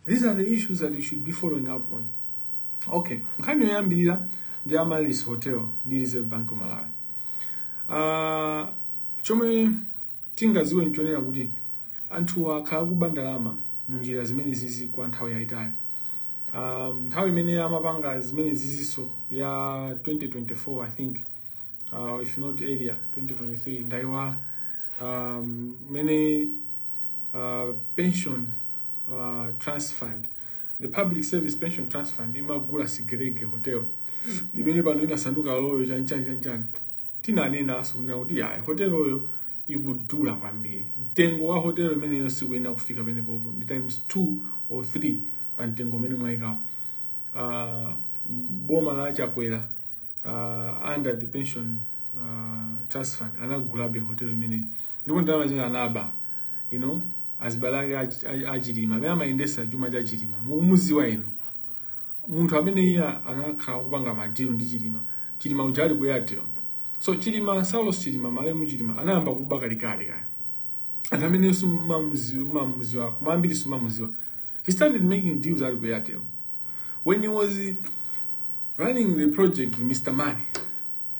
These are the issues that you should be following up on. Okay, nkhani yoyambirira ndi Amaryllis Hotel ndi Reserve Bank of Malawi. Uh, chomwe tingaziwe nchonena kuti anthu akhala akuba ndalama mu njira zimenezizi kwa nthawi yayitali. Um, nthawi imene amapanga zimenezizinso ya 2024 I think uh, if not earlier 2023 ndaiwala um, mene uh, pension uh, trust fund the public service pension trust fund imagula sigelege hotel imene pano inasanduka royal chanchani chanchani tinanenanso kunena kuti yayi hoteloyo ikudula kwambiri mtengo wa hotelo imeneyo sikuyenera kufika penepopo ndi times two or three pa mtengo umene mwayikawo uh, boma la chakwera uh, under the pension uh, trust fund anagulabe hotelo imeneyo ndipo ndalama zimene anaba you know azibale ake ach- ach- achilima amene amayendesa chuma cha chilima mukumuziwa inu munthu amene iye anakhala akupanga madilu ndi chilima chilima uja ali ku airtel so chilima saulos chilima malemu chilima anayamba kuba kalekale kaya anthu amene sumamuziwa koma ambiri sumamuziwa he started making deals ali ku airtel when he was running the project mr money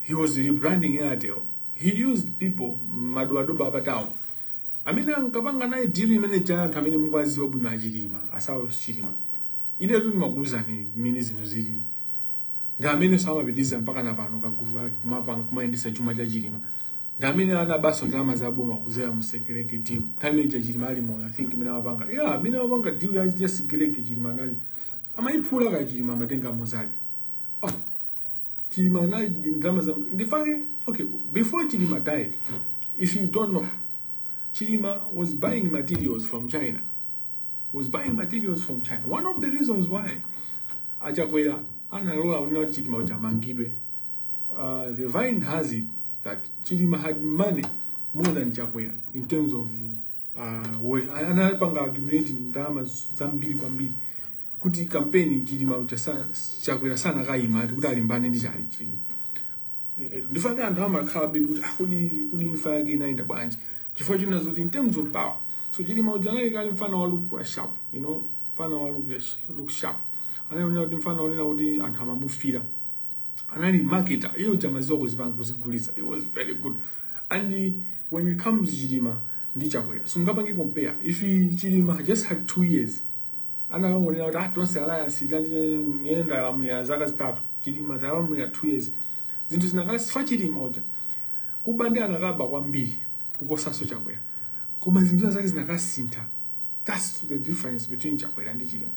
he was rebranding Airtel he used people madobadoba a pa town amene ankapanga naye deal imene ija anthu amene mukuwaziwa bwino achilima a saulos chilima inetu ndimakuuzani mmene zinthu zili ndi ameneso amapitiriza mpakana pano kagulu kake kumapanga kumayendesa chuma cha chilima ndi amene anabaso ndalama za boma kuzera mu sigelege deal time ija chilima ali moyo i think imene amapanga yeah amene amapanga deal ya sigelege chilima anali amayiphula ka chilima amatenga muzake chilima anali ndi ndalama za ndifake okay before chilima died if you don't know chilima was buying materials from china was buying materials from china one of the reasons why achakwera analola kunena kuti chilima kuti amangidwe uh, the vine has it that chilima had money more than chakwera in terms of uh, anapanga accumulate ndalama zambiri kwambiri kuti kampeni chilima uja sa- chakwera sanakayima ati kuti alimbane ndi chalichi ndifake anthu amakhala bedi kuti ah, kodi kodi imfa yake inayenda bwanji chifukwa china zoti in terms of power so chilima uja anali kale mfana wa look sharp you know mfana wa look sh- look sharp anaonera kuti mfana onena kuti anthu amamufira anali marketer iye uja amaziwa kuzipanga kuzigulitsa he was very good and when it comes to chilima ndi chakwera simungapange compare if chilima just had two years anakangonena kuti ah tonse alliance tanjiyenda alamulira zaka zitatu chilima atalamulira two years zinthu zinakasintha chilima uja kuba nde anakaba kwambiri kuposanso chakwera koma zinthu zake zinakasintha That's the difference between Chakwera and Chilima.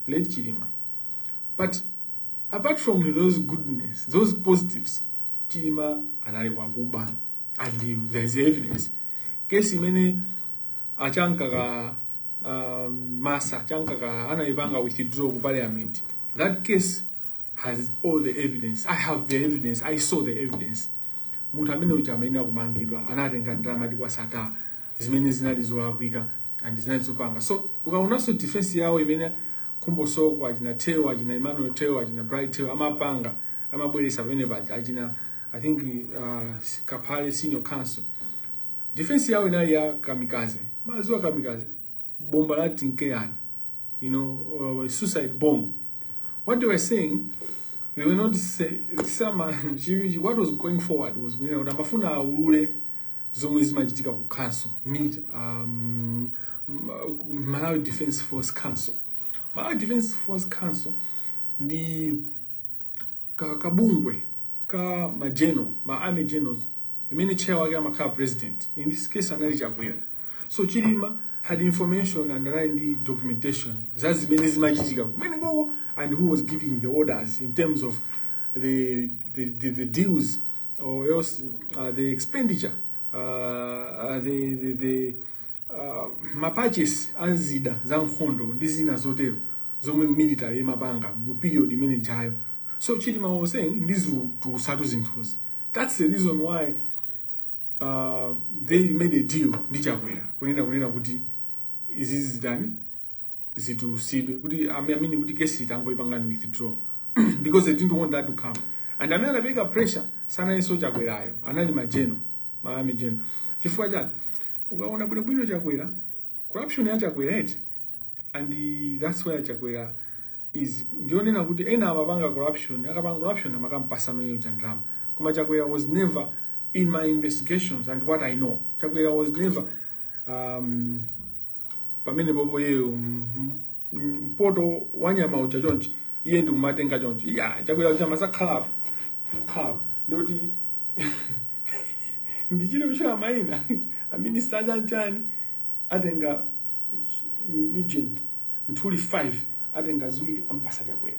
Late Chilima. But apart from those goodness, those positives, Chilima anali wakuba. And there is evidence. Kesi mene achanka ka um, masa, achanka ka anaibanga withdraw ku parliament. That case has all the evidence i have the evidence i saw the evidence munthu amene uja amene amakamangidwa anatenga ndalama kwa Sattar zimene zinali zolakwika and zinali zopanga so ukaonanso defense yawo imene Khumbo Soko achina Theu achina Emmanuel Theu achina Bright Theu amapanga amabweresa pamene paja achina i think uh, kaphale senior counsel defense yawo inali ya kamikaze mumaziwa kamikaze bomba la tinkeani you know uh, suicide bomb what they were saying they were not say, sama, what was going forward was kunena kuti amafuna aulule zomwe zimachitika ku council um, malawi defense force council malawi defense force council ndi ka kabungwe ka ma general ma army generals imene chair wake amakhala president in this case anali chakwera so chilima had information and anali ndi documentation za zimene zimachitika kumenekoko and who was giving the orders in terms of the, the, the, the deals or else uh, the expenditure uh, uh, the, the, the uh, mapurchase a zida za nkhondo ndi zina zotero zomwe military imapanga mu period imene jayo so chilima was saying ndizitusatu zinthuzi That's the reason why uh, they made a deal ndi Chakwera kunena kunena kuti izi zitani zitusidwe kuti I mean kuti kesi tangoipangani withdraw because they didn't want that to come and amene anapereka pressure sanalinso Chakwerayo anali ma general ma army general chifukwa chani ukaona bwino bwino Chakwera corruption ya Chakwera eti and that's where Chakwera is ndiyonena kuti ena amapanga corruption akapanga corruption amakampasano iyeyo cha ndalama koma chakwera was never in my investigations and what i know chakwera was never um, pamenepopo yeyo mm, mm, mpoto wanyama uli chonchi iye ndikumatenga chonchi iyayi chakwera ucha amasakhalapo khalapo ndikuti ndichite kutchula maina aminista chanchani atenga ujeni nthuli 5 atenga ziwiri ampasa chakwera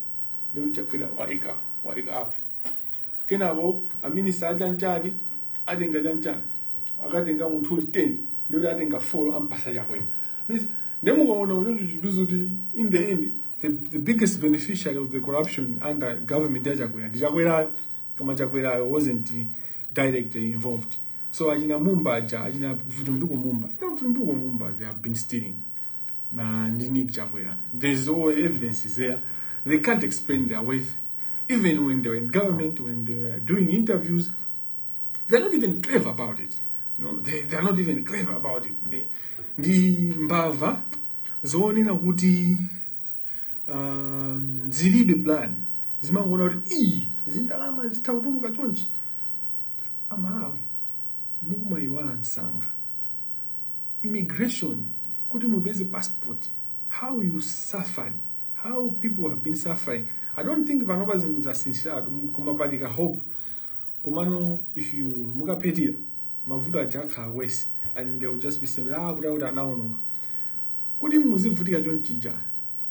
ndikuti chakwera waika waika apa kenako aminista achanchani atenga chanchani akatenga nthuli 10 ndikuti atenga 4 ampasa chakwera Means, nde mukaona choncho chikuwonetsa kuti in the end the, the biggest beneficiary of the corruption under government ya chakwera ndi chakwerayo koma chakwerayo wasn't directly involved so achina mumba aja achina vitumbiko mumba you know vitumbiko mumba they have been stealing na ndi Nick Chakwera there's all evidence is there they can't explain their wealth even when they were in government when they were doing interviews they're not even clever about it you know they, they're not even clever about it they, ndi mbava zonena kuti um, zilibe plan zimangoona kuti iyi zindalama zitha kutuluka chonchi amalawi mukumayiwala msanga immigration kuti mupeze passport how you suffered how people have been suffering i don't think panopa zinthu zasinthiratu koma pali ka hope komano if you mukaphethira mavuto aja akhala worse and they will just be saying akutiakuti anaononga kuti muzivutika chonchija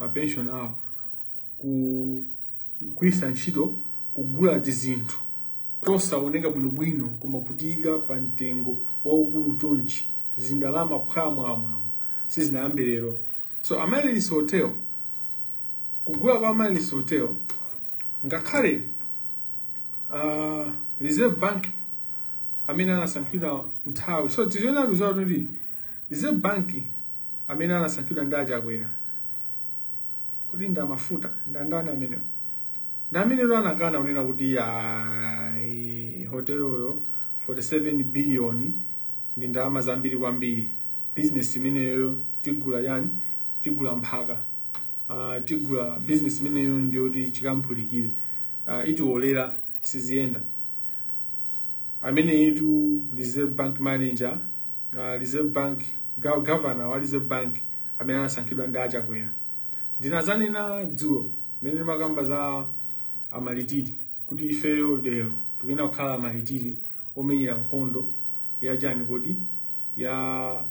mapenshoni awo kugwiritsa ntchito kugula tizinthu tosaoneka bwinobwino koma kutiyika pa mtengo waukulu chonchi zindalama phwamwamwamwa sizinayambe lero so amaryllis hotel kugula kwa amaryllis hotel ngakhale uh, reserve bank amene anasankhidwa nthawi so tiziona kuti reserve bank amene anasankhidwa ndi achakwera kodi ndi amafuta ndi andani amenewo ndi amenetu anakana kunena kuti ayi hoteloyo 47 billion ndi ndalama zambiri kwambiri business imeneyo tigula chani tigula mphaka uh, tigula business imeneyo ndiyoti chikampulikire uh, ah, itiwolera siziyenda ameneyitu reserve bank manager uh, Reserve Bank governor wa Reserve Bank amene anasankhidwa ndi achakwera ndinazanena dzulo mmene ndimakamba za amalitiri kuti ifeyo lero tikuyenera kukhala amalitiri omenyera nkhondo ya chani kodi ya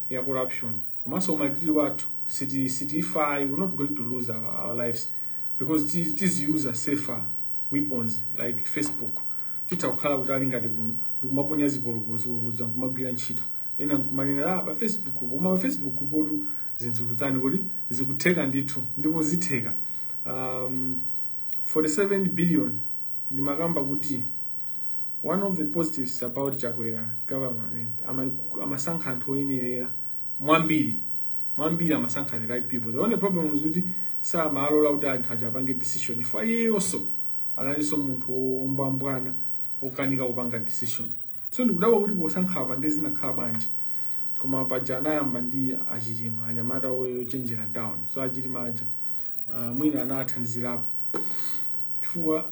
ya corruption komanso umalitiri wathu siti sitifa we not going to lose our, our lives because tiziyuza safer weapons like facebook titha kukhala kuti ali ngati kuno ndikumaponya zipolopolo zipolopoloza nkumagwira ntchito ena nkumanena ah pa facebook po koma pa facebook potu zinthu kutani kodi zikutheka ndithu ndipo zitheka um, 47 billion ndimakamba kuti one of the positives about chakwera government amasankha anthu oyenerera mwambiri mwambiri amasankha the right people the only problem is kuti samalola kuti anthu aja apange decision chifukwa iyeyonso analinso munthu wombwambwana wokanika kupanga decision so ndikudabwa kuti posankha apa nde zinakhala bwanji koma paja anayamba ndi achilima anyamata ochenjera down so achilima aja uh, mwina anathandizirapo chifukwa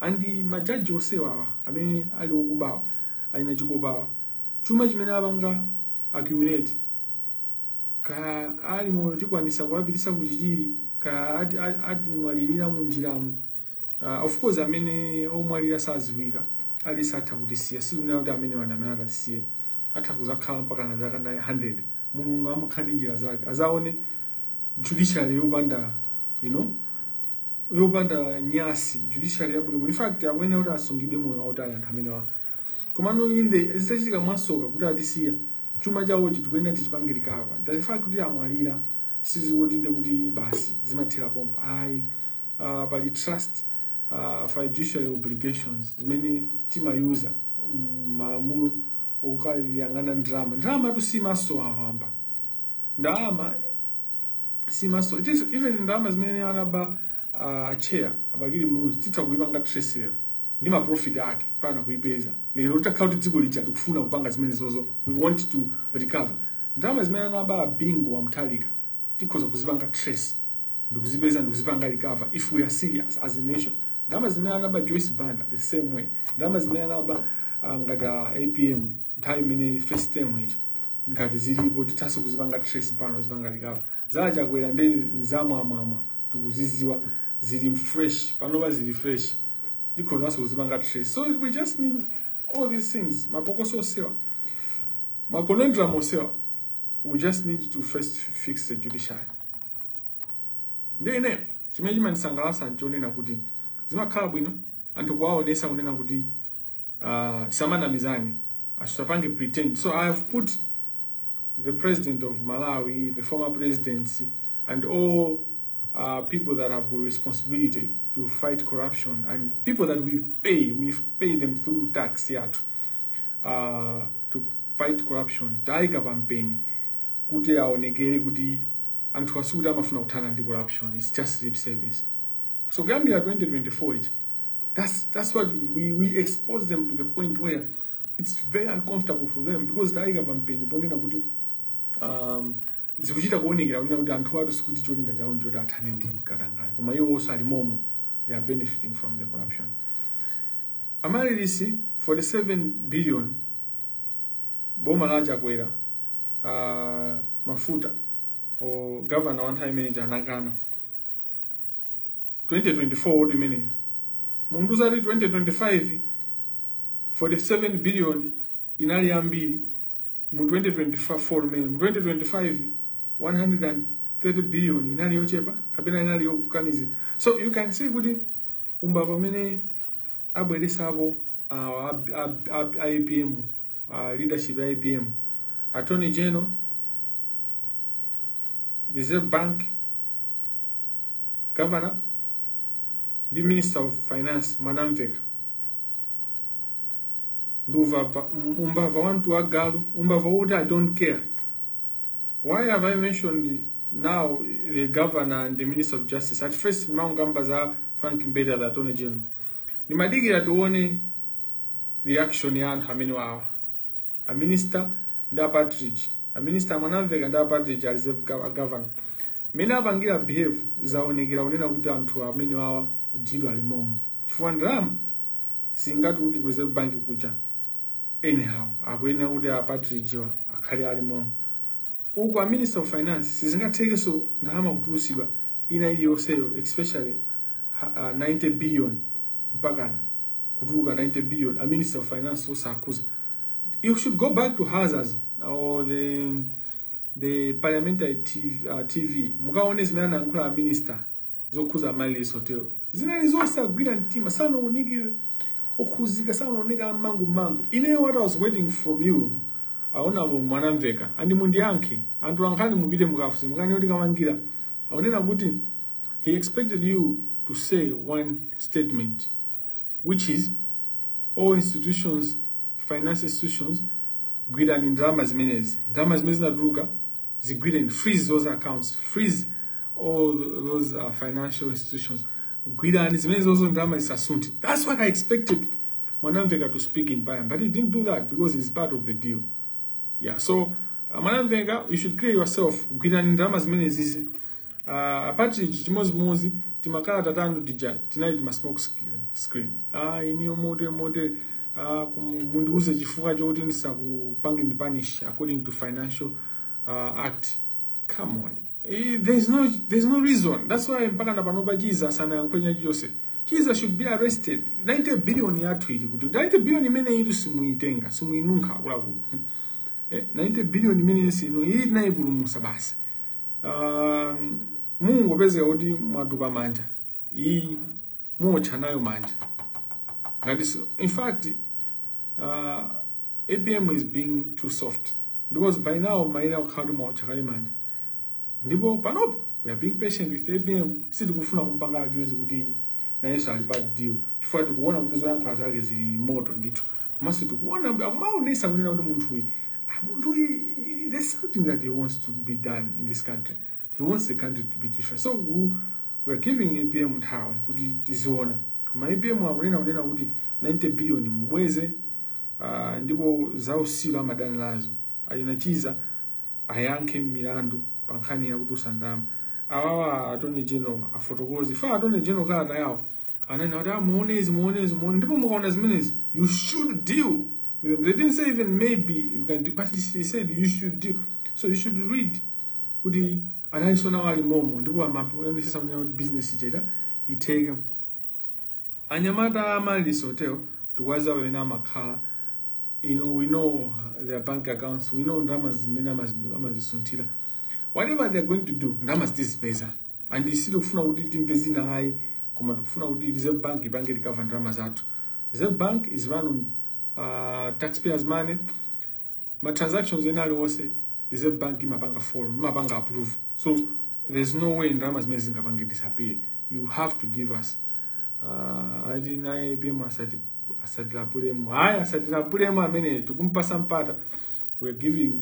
andi majaji onsewawa amene ali okubawa a lina chikopawa chuma chimene apanga accumulate kaya ali moyo tikwanisa kuwapitisa kuchichiri kaya ati, ati, atimwalirira munjiramu uh, of course amene omwalira sadziwika aliyense atha kutisiya sikunena kuti amenewa nde amene atitisiye atha kuzakhala mpaka na zaka 100 mulungu amakhala ndi njira zake azaone judiciary yopanda you know yopanda nyasi judiciary yabwino in fact akuyenera kuti asungidwe moyo wautali anthu amenewa komano inde zitachitika mwasoka kuti atisiya chuma chawochi tikuyenera tichipange recover the fact kuti amwalira sizikuti nde kuti basi zimathera pompo ayi uh, pali trust uh, fiduciary obligations zimene timayuza m'malamulo okuyang'ana ndalama ndalama trust imasowa mwina ndalama siimasowa it is even ndalama zimene anaba uh, chair a Bakili Muluzi titha kuipanga trace lero ndi ma profit ake pano kuipeza lero titakhala kuti dziko lathu tikufuna kupanga zimenezozo we want to recover ndalama zimene anaba Bingu wa Mutharika tikhoza kuzipanga trace ndikuzipeza ndikuzipanga recover if we are serious as a nation ndalama zimene anaba Joyce Banda the same way ndalama zimene anaba uh, ngati uh, APM nthawi imene first term ija ngati zilipo tithanso kuzipanga trace pano kuzipanga recover za Chakwera ndi nzamwamwamwa tikuzidziwa zili fresh panopa zili fresh tikhozanso kuzipanga trace so we just need all these things mapokoso onsewa ma conundrum onsewa we just need to first fix the judiciary ndi ine chimene chimandisangalatsa nchonena kuti zimakhala bwino anthu kuwaonesa kunena kuti Uh, tisamanamizane asitapange pretend so i have put the president of malawi the former presidency and all uh, people that have got responsibility to fight corruption and people that we pay we pay them through tax yathu uh, to fight corruption taika pampeni kuti aonekere kuti anthu asikuti amafuna kuthana ndi corruption its just lip service So kuyambira 2024 ichi that's, that's what we, we expose them to the point where it's very uncomfortable for them because tayika campaign ponena kuti um, zikuchita kuonekera kunena kuti anthu athu sikuti cholinga chawo ndichoti athane ndi katangale koma iwo onse alimomo they are benefiting from the corruption Amaryllis 47 billion boma la Chakwera uh, mafuta o governor wa nthawi imeneja anakana 2024 ndiye munthu uzati 2025 47 billion inali yambiri mu 2024 mmene mu 2025 130 billion inali yochepa kapena inali yokukanizika so you can see kuti umbava amene abweresapo awa ab- ab- ab- a APM a leadership ya APM attorney general reserve bank governor ndi minister of finance mwanamveka ndi uvava um- umbava wantu wa galu umbava wokuti i don't care why have i mentioned now the governor and the minister of justice at first maungamba za frank mbeda the attorney general ndimadikira tione reaction ya anthu amene wawa a minister ndi a Partridge. A minister a Mwanamvekha ndi a Partridge a reserve gov- a governor. Mmene apangira behave zaonekera kunena kuti anthu amenewawa dzidwa ali momo. Chifukwa ndalama singatuluke ku reserve bank kuja. Anyhow, akuyenera kuti a Partridge wa akhale ali momo. uku a minister of finance sizingathekenso ndalama kutulusidwa ina iliyonseyo especially ha- ah, 90 billion mpakana kutuluka 90 billion a minister of finance osakhuza you should go back to Hansards or the the parliamentary tv, uh, TV mukaone zimene anayankhula a minister zokhuza Amaryllis Hotel zinali zosagwira mtima sanaoneke okhuzika sanaoneka amangu mangu ine what i was waiting from you a honourable Mwanamvekha and mundiyankhe anthu ankhani mupite mukafunse mukanene zoti Kamangila akunena kuti he expected you to say one statement which is all institutions financial institutions gwirani ndalama zimenezi ndalama zimene zinatuluka zigwireni freeze those accounts freeze all those uh, financial institutions gwirani zimenezozo ndalama zisasunthe that's what i expected Mwanamvekha to speak in parliament but he didn't do that because he's part of the deal Yeah, so uh, Mwanamvekha you should clear yourself gwirani ndalama zimenezizi uh, a Partridge chimodzimodzi timakalata tanu tija tinali tima smoke screen screen ah ineyo motere motere ah kum- mundiuze chifukwa choti ndisakupangeni punish according to financial uh, act come on eh, there's no there's no reason that's why mpaka na panopa Chizaso sanayankhe china chilichonse Chizaso should be arrested 90 billion yathu ili kuti 90 billion imene ili simuitenga simuinunkha akuluakulu eh, 90 billion imene sino iyi tinayipulumusa basi um, mungopezeka kuti mwatupa manja iyi muotcha nayo manja ngati in fact uh, apm is being too soft because by now mumayenera kukhala kuti mwaotcha kale manja ndipo panopo we are being patient with apm sitikufuna kumpanga accuse kuti nayenso ali part of the deal chifukwa tikuona kuti zoyankhula zake zili ni moto ndithu komanso tikuona kuti akumaonesa kunena kuti munthuyi ah, munthuyi there's something that he wants to be done in this country he wants the country to be different so we, we are giving apm nthawi kuti tiziona koma apm akunena kunena kuti 90 billion mubweze Uh, ndipo zausilu amadana nazo ana Chizaso ayankhe milandu pa nkhani ya kutulusa ndalama awawa attorney general afotokoze a attorney general kalata yawo anena kuti muone izi ah, muone izi muone ndipo mukaona zimenezi you should deal with them they didn't say even maybe you can do but he said you should deal so you should read kuti analinso nawo ali momo ndipo amaonesesa kuti business cheta itheke Anyamata a Amaryllis Hotel tikuwadziwa pamene amakhala you know, we know their bank accounts, we know ndalama zimene amazisunthira. Whatever they are going to do, ndalama zitizipeza. And isi sitikufuna kuti timve zina ayi, koma tikufuna kuti Reserve Bank ipange recover ndalama zathu. Reserve Bank is run on uh, taxpayers money. Ma transactions ena aliwonse Reserve Bank imapanga follow, imapanga approve. So there's no way ndalama zimene zingapange disappear. You have to give us uh, ali naye pemu asati asatilapulemu hayi asatilapulemu amene tikumpasa mpata we are giving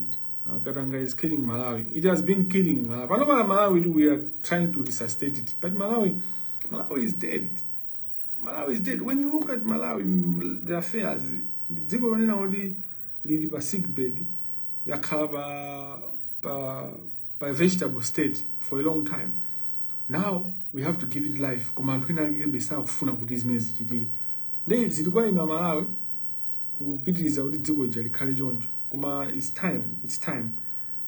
uh, katanga is killing malawi it has been killing malawi pano pala malawi tu we are trying to resuscitate it but malawi malawi is dead malawi is dead when you look at malawi the affairs dziko lonena kuti lili pa sick bed yakhala pa, pa, pa vegetable state for a long time now we have to give it life koma anthu ena akebe sakufuna kuti zimene zichitike nde zili kwa inu amalawi kupitiriza kuti dziko lija likhale choncho koma its time its time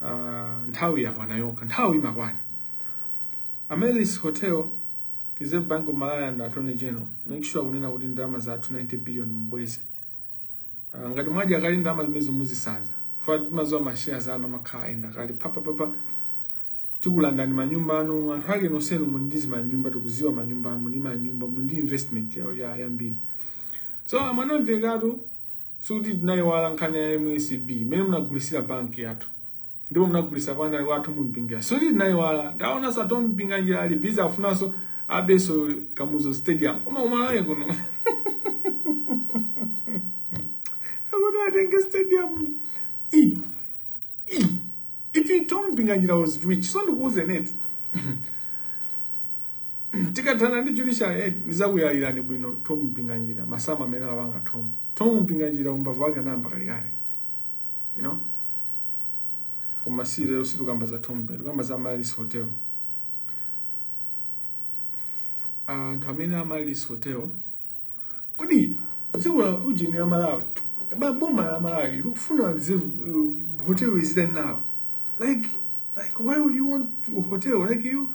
uh, nthawi yakwana yokha nthawi imakwana Amaryllis Hotel Reserve Bank of malawi and attorney general make sure kunena kuti ndalama zathu 90 billion mubweze Ah, ngati mwadya kale ndalama zimenezo muzisanza ife timaziwa masheya anu amakhala ayenda kale papapapa tikulandani manyumba anu anthu ake nonsenu muli ndi zimanyumba tikuziwa manyumba anu muli manyumba muli ndi investment ya- ya- yambiri so mumveretu sikuti tinayiwala nkhani ya msb imene munagulisira banki yathu ndipo munagulisa kwa Thom Mpinganjira sikuti tinayiwala ndaonanso Thom Mpinganjira ali busy afunanso abenso Kamuzu stadium koma ku Malawi kuno akuti atenge stadium e e if you thought Mpinganjira was rich so ndikuuze net tikathana ndi judicial aid ndizakuyalirani bwino Thom Mpinganjira masamu amene apanga Thom Thom Mpinganjira umbava wake unayamba kalekale you know koma si lero sitikukamba za Thom tikukamba za Amaryllis Hotel anthu amene a Amaryllis Hotel kodi dziko la ujeni ya Malawi ba boma la Malawi likufuna Reserve uh, hotel izitani nawo like like why would you want a hotel like you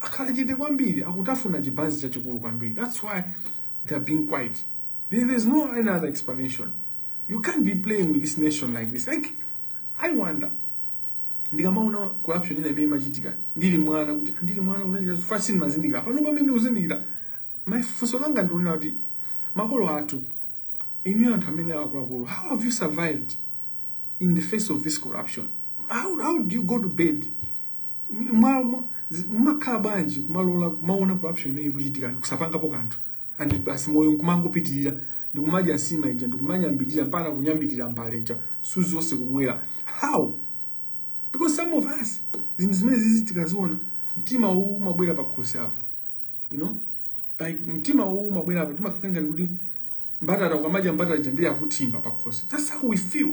akhala chete kwambiri akutafuna chibanzi chachikulu kwambiri that's why they are being quiet there, there's no any other explanation you can't be playing with this nation like this like i wonder ndikamaona corruption ina imene imachitika ndili mwana kuti ndili mwana umachita fasini sumazindikira pano pamene ndikuzindikira funso langa ndikunena kuti makolo athu inu anthu amene akuluakulu how have you survived in the face of this corruption how, how do you go to bed mwa- mwa- zi- mmakhala bwanji kumalola kumaona corruption imene ikuchitika kusapangapo kanthu and basi moyo nkumangopitirira ndikumadya nsima ija ndikumanyambirira mpaka kunyambirira mbale ija msuzi wonse kumwera how because some of us zinthu zimene izi tikaziona mtima uwu umabwera pakhosi apa you know like mtima uwu umabwera apa timakhala ngati mbatata ukamadya mbatata ija ndiye yakutsamwa pakhosi that's how we feel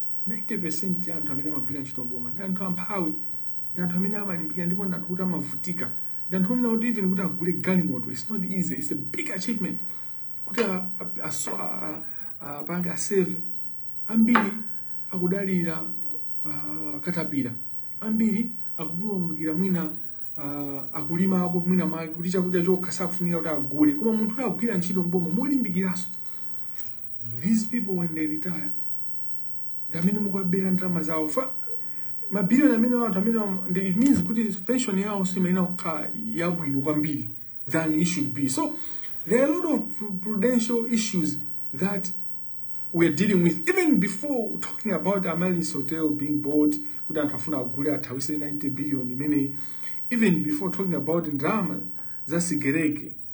90% ya anthu amene amagwira ntchito mboma ndi anthu amphawi, ndi anthu amene amalimbikira ndipo ndi anthu kuti amavutika. Ndi anthu onena kuti even kuti agule galimoto it's not easy, it's a big achievement kuti apange aseve. Ambiri akudalira uh, katapira, ambiri akupulumukira mwina uh, akulima ako mwina mwake kuti chakudya chokha sakufunika kuti agule, koma munthu akugwira ntchito mboma molimbikiranso these people when they retire ndi amene mukuwabera ndalama zawo fa mabiliyoni amene anthu amene am- ndi it means kuti pension yawo imayenera kukhala yabwino kwambiri than it should be so there are a lot of pru- prudential issues that we're dealing with even before talking about Amaryllis Hotel being bought kuti anthu afuna agule athawise 90 billion imeneyi even before talking about ndalama za sigereke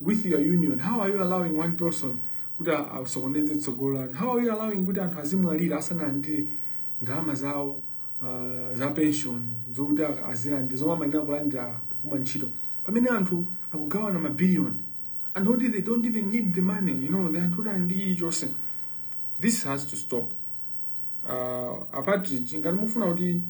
with your union how are you allowing one person kuti asokoneze tsogolo lanu how are you allowing kuti anthu azimwalira asanalandire ndalama zawo uh, za pension zokuti azilandire zomwe amayenera kulandira popuma ntchito pamene anthu akugawana mabiliyoni anthu oti they don't even need the money you know the anthu oti ali ndi chilichonse this has to stop uh, apatridge ngati mufuna kuti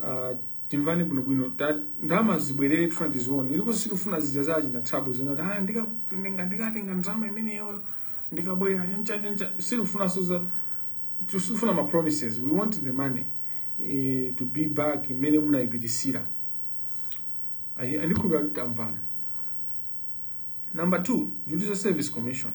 uh, timvane bwinobwino ta- ndalama zibwerere tifuna tizione ndipo sitifuna zija za achina Thabo zonati ah, ndika- ndinga- ndikatenga ndalama imeneyoyo ndikabwerera chanchanchancha sitifunanso za sitifuna ma promises we want the money eh, to be back imene munayipitisira ndikhulupira kuti tamvana Number two, Judicial Service Commission.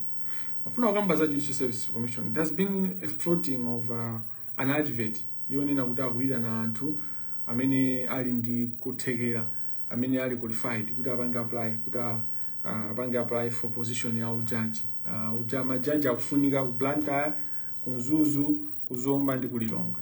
Ndimafuna kukamba za Judicial Service Commission. There has been a floating of uh, an advert yonena kuti akuyitana anthu amene ali ndi kuthekera amene ali qualified kuti apange apply kuti uh, apange apply for position ya ujaji uh, uja majaji akufunika ku Blantyre, ku Mzuzu, ku Zomba ndi ku Lilongwe.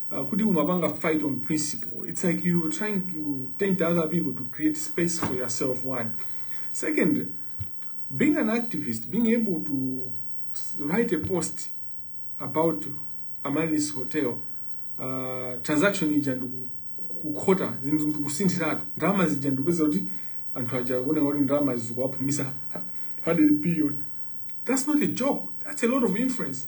Uh, kuti kumapanga fight on principle it's like you trying to tempt other people to create space for yourself one second being an activist being able to write a post about Amaryllis hotel uh, transaction ija ndikukhota zinthu ndikusinthiratu ndalama zija ndikupeza kuti anthu aja kuoneka kuti ndalama zikuwapulumuka 100 billion that's not a joke that's a lot of influence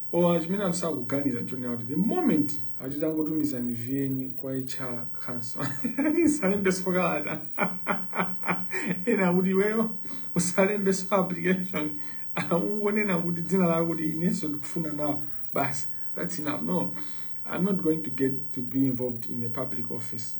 Koma chimene anthu sakuganiza nchonena kuti the moment akuti tangotumizani CV yanu kwa HR council musalembenso kalata ena akuti iweyo usalembenso application ungonena kuti dzina lako kuti inenso ndikufuna nawo basi that's enough no i'm not going to get to be involved in a public office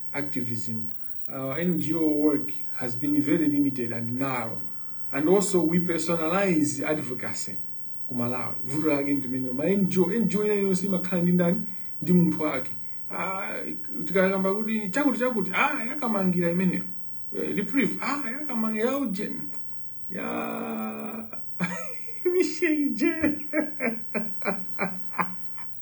activism. Our NGO work has been very limited and narrow. And also we personalize advocacy ku Malawi. Vuto lake ndi limenelo ma NGO, NGO ina iliyonse imakhala ndi ndani ndi munthu wake. Ah, tikakamba kuti chakuti chakuti ah ya Kamangira imeneyo. Eh, Reprieve ah ya Kamangira ya ujeni. Ya Michelle J.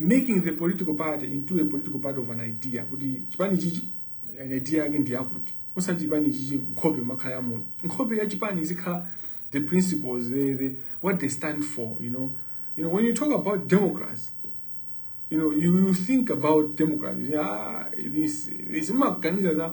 making the political party into a political party of an idea kuti chipani chichi an idea yake ndi yakuti osati chipani chichi nkhope kumakhala ya munthu nkhope ya chipani izikhala the principles the, the, what they stand for you know you know when you talk about Democrats you know you, you think about Democrats ah, this this maganiza za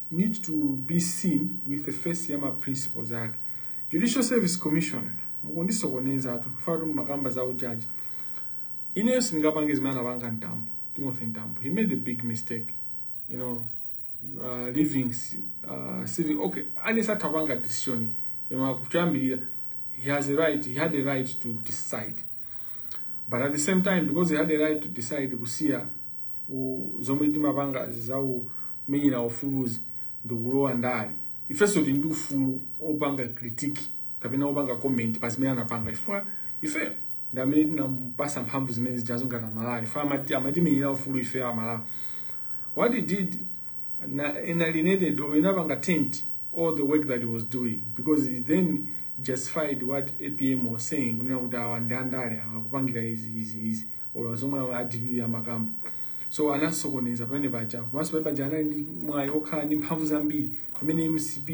need to be seen with the face ya ma principles ake judicial service commission mukundisokoneza atu fatu mumakamba za ujaji ineyo sindingapange zimene anapanga mtambo timothy mtambo he made a big mistake you know uh, leaving uh, city okay alesi atapanga decision you know akuchambirira he has a right he had a right to decide but at the same time because he had a right to decide kusiya u- zomwe amapanga za umenyeri ufuluzi ndikulowa ndale ifenso tili ndi ufulu opanga critique kapena opanga comment pa zimene anapanga chifukwa ife ndi amene tinamupasa mphamvu zimene zijazo ngati aMalawi ife amati- amatimenyera ufulu ife aMalawi what he did na- inalienated or inapanga taint all the work that he was doing because he then justified what APM was saying kunena kuti awa ndi andale awa akupangira izi izi izi olo zomwe aDPP amakamba so anasokoneza pamene paja komanso pamene paja anali ndi mwayi okhala ndi mphamvu zambiri pamene MCP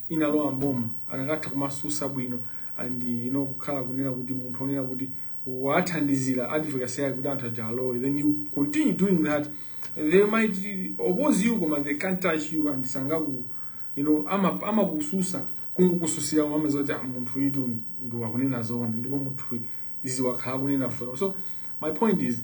inalowa mboma akanatha kumasusa bwino and you know kukhala kunena kuti munthu onena kuti wathandizira advocacy yake kuti anthu aja alowe then you continue doing that they might oppose you koma they can't touch you and sangaku you know ama amakususa kungokususira amaziwa kuti "Ah, munthu uyu ndi akunena zoona ndipo munthu uyu izi wakhala akunena for so my point is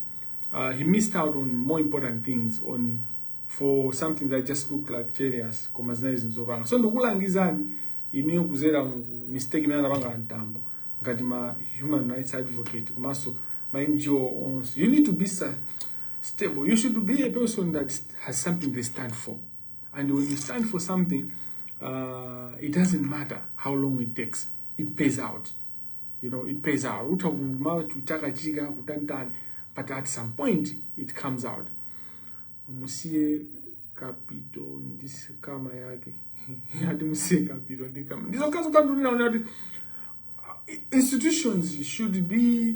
uh, he missed out on more important things on for something that just looked like cherius koma zinali zinthu zopanga so ndikulangizani inuyo kuzera mu mistake imene anapanga aMtambo ngati ma human rights advocate komanso ma NGO onse you need to be sa- stable you should be a person that st- has something they stand for and when you stand for something uh, it doesn't matter how long it takes it pays out you know it pays out utha kumatukanidwa kutakachitika kutantani but at some point it comes out musiye Kapito ndi CAMA yake ati musiye Kapito ndi CAMA ndizokhazo kanthu ndinaona kuti uh, institutions should be